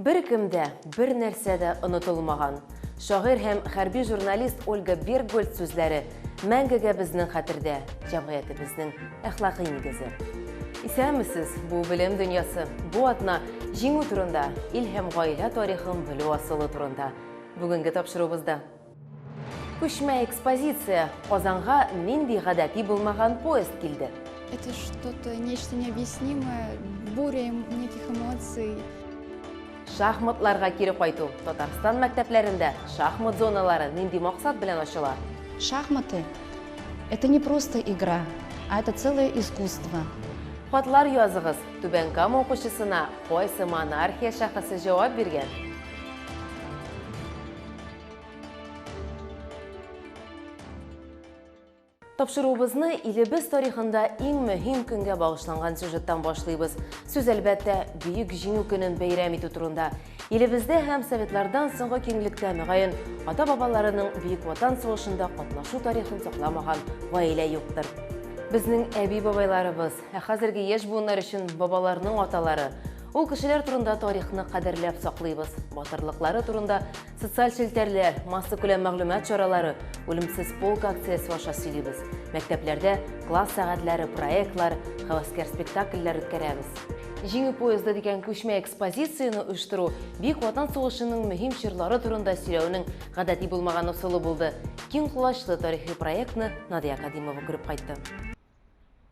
Беркем дә, бернәрсә дә онытылмаган. Шагыйрь һәм хәрби журналист Ольга Берггольц сүзләре мәңгегә безнең хәтердә, җәмгыятебезнең әхлакый нигезе. Исәнмесез, бу белем дөньясы, бу атна Җиңү турында, ил һәм гаилә тарихын белү асылы турында бүгенге тапшыруыбызда. Күчмә экспозиция. Казанга нинди гадәти булмаган поезд килде? Это что-то нечто необъяснимое, буря эм- неких эмоций. Шахматларга кире кайту. Татарстан мәктәпләрендә шахмат зоналары нинди максат белән ачыла? Шахматы – это не просто игра, а это целое искусство. Хатлар языгыз. Түбән Кама укучысына кайсы монархия шәхесе җавап биргән? Тапшыруыбызны илебез тарихында иң мөһим көнгә багышланган сюжеттан башлыйбыз. Сүз әлбәттә Бөек Җиңү көнен бәйрәм итү турында. Илебездә һәм советлардан соңгы киңлектә мөгаен ата-бабаларының Бөек Ватан сугышында катнашу тарихын сакламаган гаилә юктыр. Безнең әби-бабайларыбыз, ә хәзерге яшь буыннар өчен бабаларның аталары, Ул кешеләр турында тарихны кадерләп саклыйбыз. Батырлыклары турында социаль челтәрләр, массакүләм мәгълүмат чаралары, үлемсез полк акциясе аша сөйлибез. Мәктәпләрдә класс сәгатьләре, проектлар, хәвәскәр спектакльләр үткәрәбез. Җиңү поезды дигән күчмә экспозицияне оештыру Бөек Ватан сугышының мөһим чорлары турында сөйләүнең гадәти булмаган ысулы булды. Киң колачлы тарихи проектны Надия Кадимова күреп кайтты.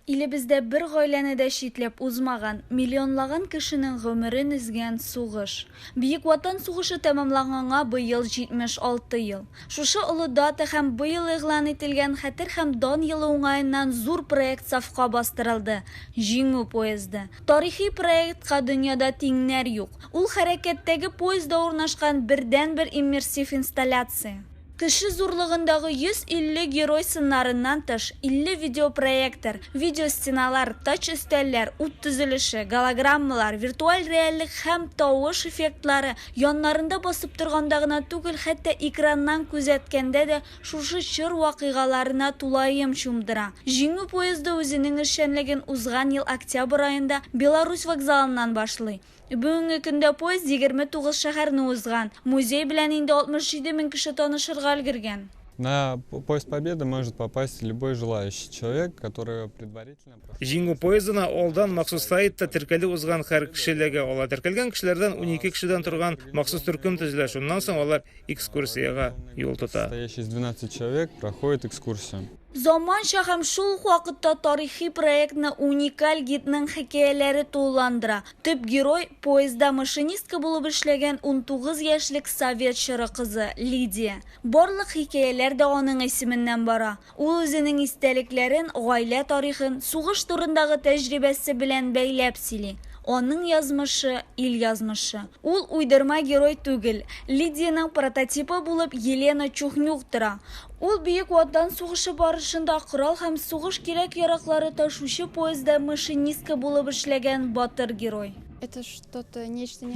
Илебездә бер гаиләне дә читләп узмаган, миллионлаган кешенең гомерен өзгән сугыш. Бөек Ватан сугышы тәмамланганга быел 76 ел. Шушы олы дата һәм быел игълан ителгән Хәтер һәм дан елы уңаеннан зур проект сафка бастырылды, Җиңү поезды. Тарихи проектка дөньяда тиңнәр юк. Ул хәрәкәттәге поездда урнашкан бердәнбер иммерсив инсталляция. Кеше зурлыгындагы 150 герой сыннарыннан тыш, 50 видеопроектор, видеостеналар, тач-өстәлләр, ут төзелеше, голограммалар, виртуаль реальлек һәм тавыш эффектлары, яннарында басып торганда гына түгел, хәтта экраннан күзәткәндә дә шушы чор вакыйгаларына тулаем чумдыра. Җиңү поезды үзенең эшчәнлеген узган ел октябрь аенда Беларусь вокзалыннан башлый. Бүгенге көндә поезд 29 шәһәрне узган. Музей белән инде 67 мең кеше танышырга өлгергән. На Поезд Победы может попасть любой желающий человек, который предварительно прошел. Җиңү поездына алдан махсус сайтта теркәлү узган һәр кеше эләгә ала. Теркәлгән кешеләрдән унике кешедән торган махсус төркем төзелә, шуннан соң алар экскурсиягә юл тота. Состоящий из 12 человек проходит экскурсию. Заманча һәм шул ук вакытта тарихи проектны уникаль гидның хикәяләре тулыландыра. Төп герой, поездда машинистка булып эшләгән унтугыз яшьлек совет чоры кызы, Лидия. Барлык хикәяләр дә аның исеменнән бара. Ул үзенең истәлекләрен, гаилә тарихын, сугыш турындагы тәҗрибәсе белән бәйләп сөйли. Аның язмышы, ил язмышы. Ул уйдырма герой түгел. Лидиянең прототипы булып Елена Чухнюк тора. Ул Бөек Ватан сугышы барышында корал һәм сугыш кирәк-яраклары ташучы поезда машинистка булып эшләгән батыр герой.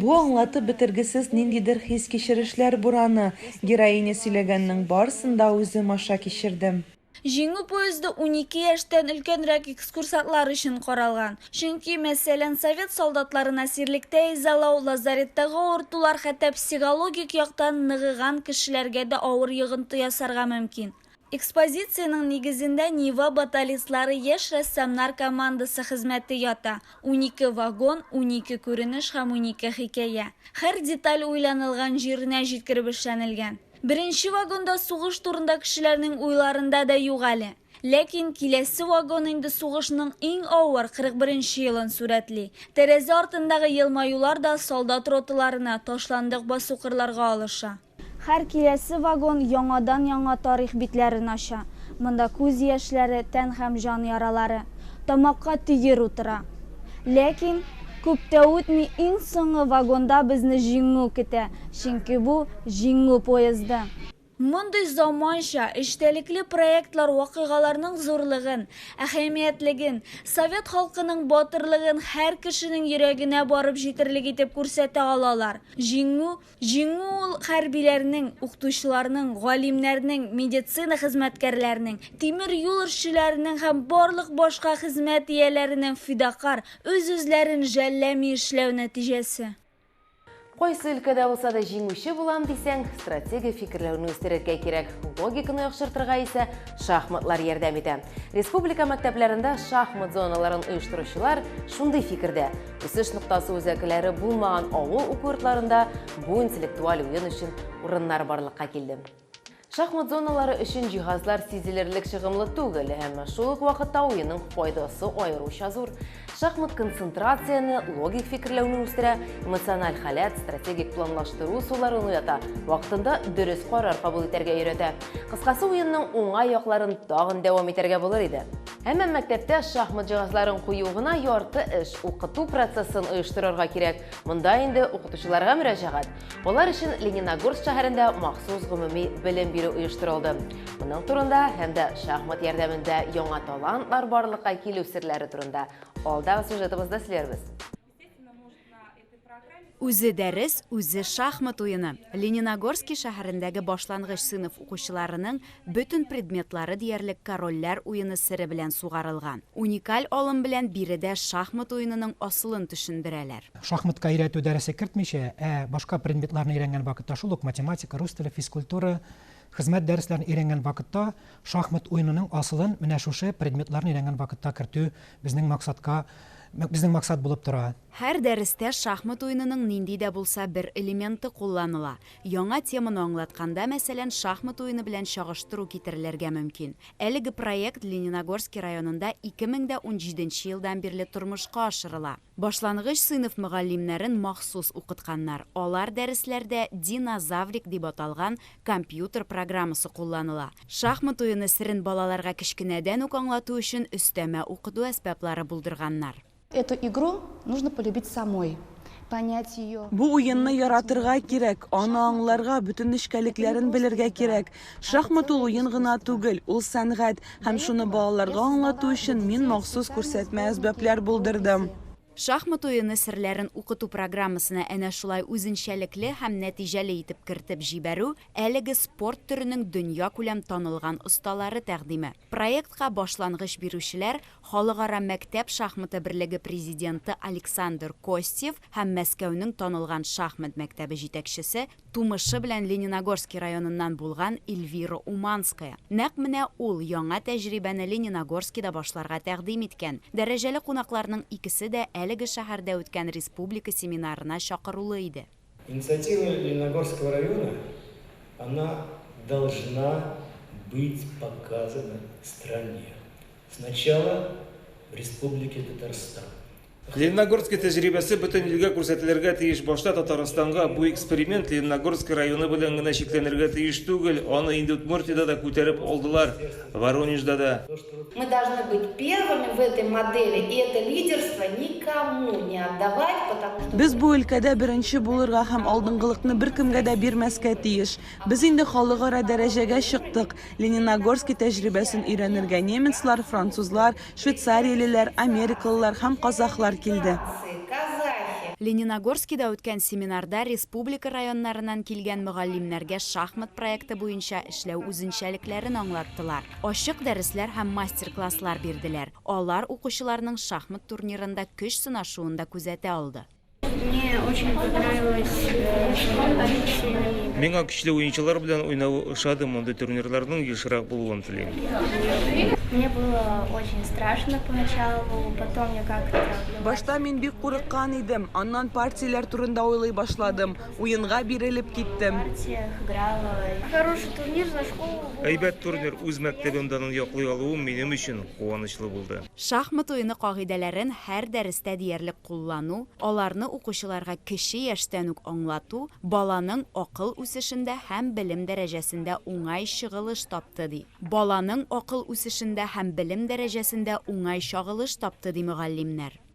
Бу аңлатып бетергесез ниндидер хис-кичерешләр бураны. Героиня сөйләгәннең барсын да үзем аша кичердем. Җиңү поезды унике яшьтән өлкәнрәк экскурсантлар өчен каралган. Чөнки, мәсәлән, совет солдатларын әсирлектә изалау, лазареттагы авыртулар хәтта психологик яктан ныгыган кешеләргә дә авыр йогынты ясарга мөмкин. Экспозициянең нигезендә Нива баталистлары яшь рәссамнар командасы хезмәте ята, унике вагон, унике күренеш һәм унике хикәя. Һәр деталь уйланылган җиренә җиткереп эшләнелгән. Беренче вагонда сугыш турында кешеләрнең уйларында да юк әле. Ләкин киләсе вагон инде сугышның иң авыр 41 нче елын сурәтли. Тәрәзә артындагы елмаюлар да солдат роталарына, ташландык басу-кырларга алыша. Һәр киләсе вагон яңадан-яңа тарих битләрен ача. Монда күз яшьләре, тән һәм җан яралары. Тамакка төер утыра. Ләкин, күп тә үтми, иң соңгы вагонда безне Җиңү көтә, чөнки бу, Җиңү поезды. Мондый заманча, эчтәлекле проектлар вакыйгаларның зурлыгын, әһәмиятлеген, совет халкының батырлыгын һәр кешенең йөрәгенә барып җитерлек итеп күрсәтә алалар. Җиңү, җиңү ул хәрбиләрнең, укытучыларның, галимнәрнең, медицина хезмәткәрләренең, тимер юл эшчеләренең һәм барлык башка хезмәт ияләренең фидакарь, үз-үзләрен жәлләми эшләү нәтиҗәсе. Кайсы өлкәдә булса да җиңүче булам дисәң, стратегия фикерләүне үстерергә кирәк. Логиканы яхшыртырга исә шахматлар ярдәм итә. Республика мәктәпләрендә шахмат зоналарын оештыручылар шундый фикердә, үсеш ноктасы үзәкләре булмаган авыл уку йортларында бу интеллектуаль уен өчен урыннар барлыкка килде. Шахмат зоналары өчен җиһазлар сизелерлек чыгымлы түгел, әмма шул ук вакытта уенның файдасы аеруча зур. Шахмат концентрацияне, логик фикерләүне үстерә, эмоциональ халәт, стратегик планлаштыру суларын уята, вакытында дөрес карар кабул итәргә өйрәтә. Кыскасы, уенның уңай якларын тагын дәвам итәргә булыр иде. Әмма мәктәптә шахмат җиһазларын кую гына ярты эш, укыту процессын оештырырга кирәк. Монда инде укытучыларга мөрәҗәгать, Алар өчен Лениногорск шәһәрендә махсус гомуми белем бирү оештырылды. Моның турында һәм дә шахмат ярдәмендә яңа талантлар барлыкка килү серләре турында алдагы сюжетыбызда сөйләрбез. Үзе дәрес, үзе шахмат уены. Лениногорски шәһәрендәге башлангыч сыйныф укучыларының Бөтен предметлары диярлек корольләр уены сере белән сугарылган. Уникаль алым белән биредә шахмат уенының асылын төшендерәләр. Шахматка өйрәтү дәресе кертмичә, ә башка предметларны өйрәнгән вакытта, шул ук математика, рус теле, физкультура, хезмәт дәресләрен өйрәнгән вакытта, шахмат уенының асылын менә шушы предметларны өйрәнгән вакытта кертү безнең максатка, безнең максат булып тора. Һәр дәрестә шахмат уенының нинди дә булса бер элементы кулланыла. Яңа теманы аңлатканда, мәсәлән, шахмат уены белән чагыштыру китерелергә мөмкин. Әлеге проект Лениногорски районында 2017 нче елдан бирле тормышка ашырыла. Башлангыч сыйныф мөгаллимнәрен махсус укытканнар, алар дәресләрдә Динозаврик дип аталган компьютер программасы кулланыла. Шахмат уены серен балаларга кечкенәдән үк аңлату өчен өстәмә укыту әсбаплары булдырганнар. Эту игру нужно полюбить самой, понять ее. Бу уенны яратырга кирәк, аны аңларга, бөтен нечкәлекләрен белергә кирәк. Шахмат ул уен гына түгел, ул сәнгать, һәм шуны балаларга аңлату өчен мин махсус күрсәтмә әсбапләр булдырдым. Шахмат уены серләрен укыту программасына әнә шулай үзенчәлекле һәм нәтиҗәле итеп кертеп җибәрү, әлеге спорт төренең дөньякүләм танылган осталары тәкъдиме. Проектка башлангыч бирүчеләр Халыкара мәктәп шахматы берлеге президенты Александр Костев һәм Мәскәүнең танылган шахмат мәктәбе җитәкчесе, тумышы белән Лениногорский районыннан булган Эльвира Уманская. Нәкъ менә ул яңа тәҗрибәне Лениногорскида башларга тәкъдим иткән. Дәрәҗәле кунакларның икесе дә әлеге шәһәрдә үткән республика семинарына чакырулы иде. Инициатива Лениногорского района, она должна быть показана стране. Сначала в Республике Татарстан. Лениногорск тәҗрибәсе бөтен илгә күрсәтелергә тиеш. Башта Татарстанга бу эксперимент Лениногорск районы белән генә чикләнергә тиеш түгел. Аны инде Удмуртиядә дә күтәреп алдылар, Воронежда да. Мы должны быть первыми в этой модели и это лидерство никому не отдавать, потому что. Без бу өлкәдә беренче булырга һәм алдынгылыкны беркемгә дә бирмәскә тиеш. Без инде халыкара дәрәҗәгә чыктык. Лениногорски тәҗрибәсен өйрәнергә немецлар, французлар, швейцариялеләр, америкалылар һәм казахлар килде. Лениногорскида үткән семинарда республика районнарыннан килгән мөгаллимнәргә шахмат проекты буенча эшләү үзенчәлекләрен аңлаттылар. Ачык дәресләр һәм мастер-класслар бирделәр. Алар укучыларның шахмат турнирында көч сынашуын да күзәтә алды. Мне очень понравилось шахмат. Миңа көчле уенчылар белән уйнавы ошады, мондый турнирларның ешрак булуын телим. Мне было очень страшно поначалу, потом я как-то. Башта мин бик курыккан идем, аннан партияләр турында уйлый башладым. Уенга бирелеп киттем. Хороший турнир за школу был. Әйбәт турнир, үз мәктәбем данын яклый алуым минем өчен куанычлы булды. Шахмат уены кагыйдәләрен һәр дәрестә диярлек куллану, аларны укучыларга кече яшьтән үк аңлату баланың акыл үсешендә һәм белем дәрәҗәсендә уңай чыгылыш тапты, ди Баланың акыл үсешендә һәм белем дәрәҗәсендә уңай чагылыш тапты, ди мөгаллимнәр.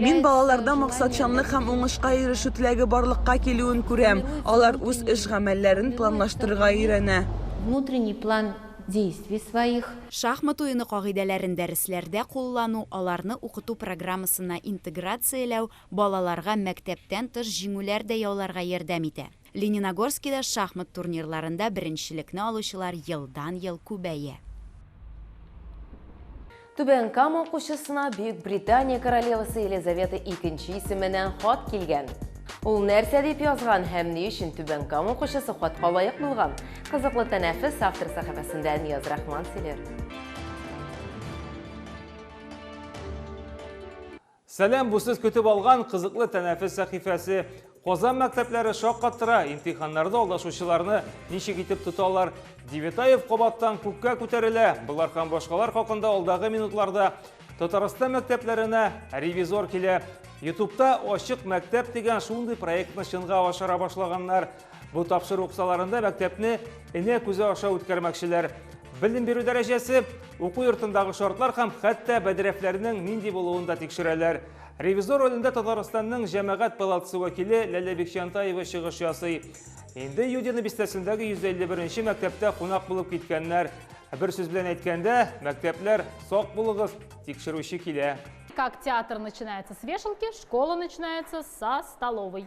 Мин балаларда максатчанлык һәм уңышка ирешү теләге барлыкка килүен күрәм, алар үз эш-гамәлләрен планлаштырырга өйрәнә. Внутренний план действий своих. Шахмат уены кагыйдәләрен дәресләрдә куллану, аларны укыту программасына интеграцияләү балаларга мәктәптән тыш җиңүләр дә яуларга ярдәм итә. Лениногорскида шахмат турнирларында беренчелекне алучылар елдан-ел күбәя. Түбән Кама укучысына Бөекбритания королевасы Елизавета икенче исеменнән хат килгән. Ул нәрсә дип язган һәм ни өчен Түбән Кама укучысы хатка лаек булган? Кызыклы тәнәфес автор сәхифәсендә Нияз Рахман сөйләр. Сәлам, бу сез көтеп алган кызыклы тәнәфес сәхифәсе. Казан мәктәпләре шаккаттыра, имтиханнарда алдашучыларны ничек итеп тоталар? Девятаев кабаттан күккә күтәрелә. Болар һәм башкалар хакында алдагы минутларда. Татарстан мәктәпләренә ревизор килә. Ютубта Ачык мәктәп дигән шундый проектны чынга ашыра башлаганнар. Бу тапшыру кысаларында мәктәпне энә күзе аша үткәрмәкчеләр. Белем бирү дәрәҗәсе, уку йортындагы шартлар һәм хәтта бәдрәфләрнең нинди булуын да тикшерәләр. Ревизор ролендә Татарстанның җәмәгать палатасы вәкиле Ләлә Бикчантаева чыгыш ясый. Инде Юдина бистәсендәге 151 мәктәптә кунак булып киткәннәр. Бер сүз белән әйткәндә, мәктәпләр сак булыгыз, тикшерүче килә. Как театр начинается с вешалки, школа начинается со столовой.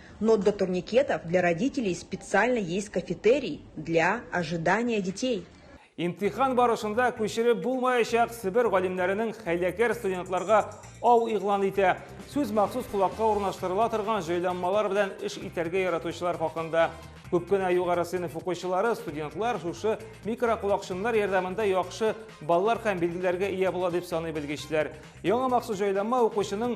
Но для турникетов для родителей специально есть кафетерий для ожидания детей. Имтихан барышында күчереп булмаячак Себер галимнәренең хәйләкәр студентларга ау игълан итә. Сүз махсус колакка урнаштырыла торган җайланмалар белән эш итәргә яратучылар хакында. Күп кенә югары сыйныф укучылары, студентлар шушы микроколакчыннар ярдәмендә яхшы баллар һәм билгеләргә ия була дип саный белгечләр. Яңа махсус җайланма укучының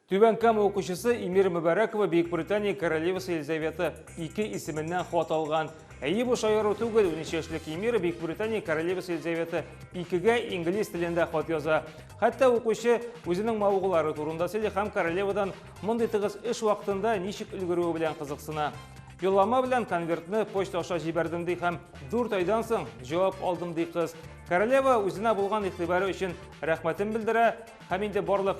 Түбән Кама укучысы Эмир Мөбарәкова Бөекбритания королевасы Елизавета II исеменнән хат алган. Әйе, бу шаяру түгел, 13 яшьлек Эмир Бөекбритания королевасы Елизавета II-гә инглиз телендә хат яза. Хәтта укучы үзенең мавыгулары турында сөйли һәм королевадан мондый тыгыз эш вакытында ничек өлгерүе белән кызыксына. Юллама белән конвертны почта аша җибәрдем ди һәм 4 айдан соң җавап алдым ди кыз. Королева үзенә булган игътибары өчен рәхмәтен белдерә һәм инде барлык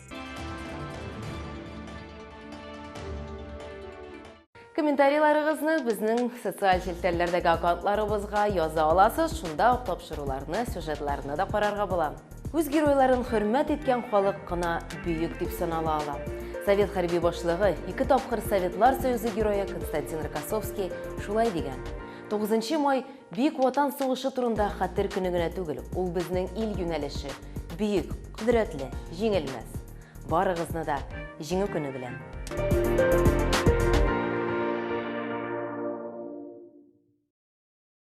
Комментарийларыгызны безнең социаль челтәрләрдәге аккаунтларыбызга яза аласыз, шунда ук тапшыруларны, сюжетларны да карарга була. Үз геройларын хөрмәт иткән халык кына бөек дип санала ала. Совет хәрби башлыгы, ике тапкыр Советлар Союзы герое Константин Рокоссовский шулай дигән. 9 май Бөек Ватан сугышы турында хәтер көне генә түгел, ул безнең ил юнәлеше, бөек, кодрәтле, җиңелмәс. Барыгызны да Җиңү көне белән!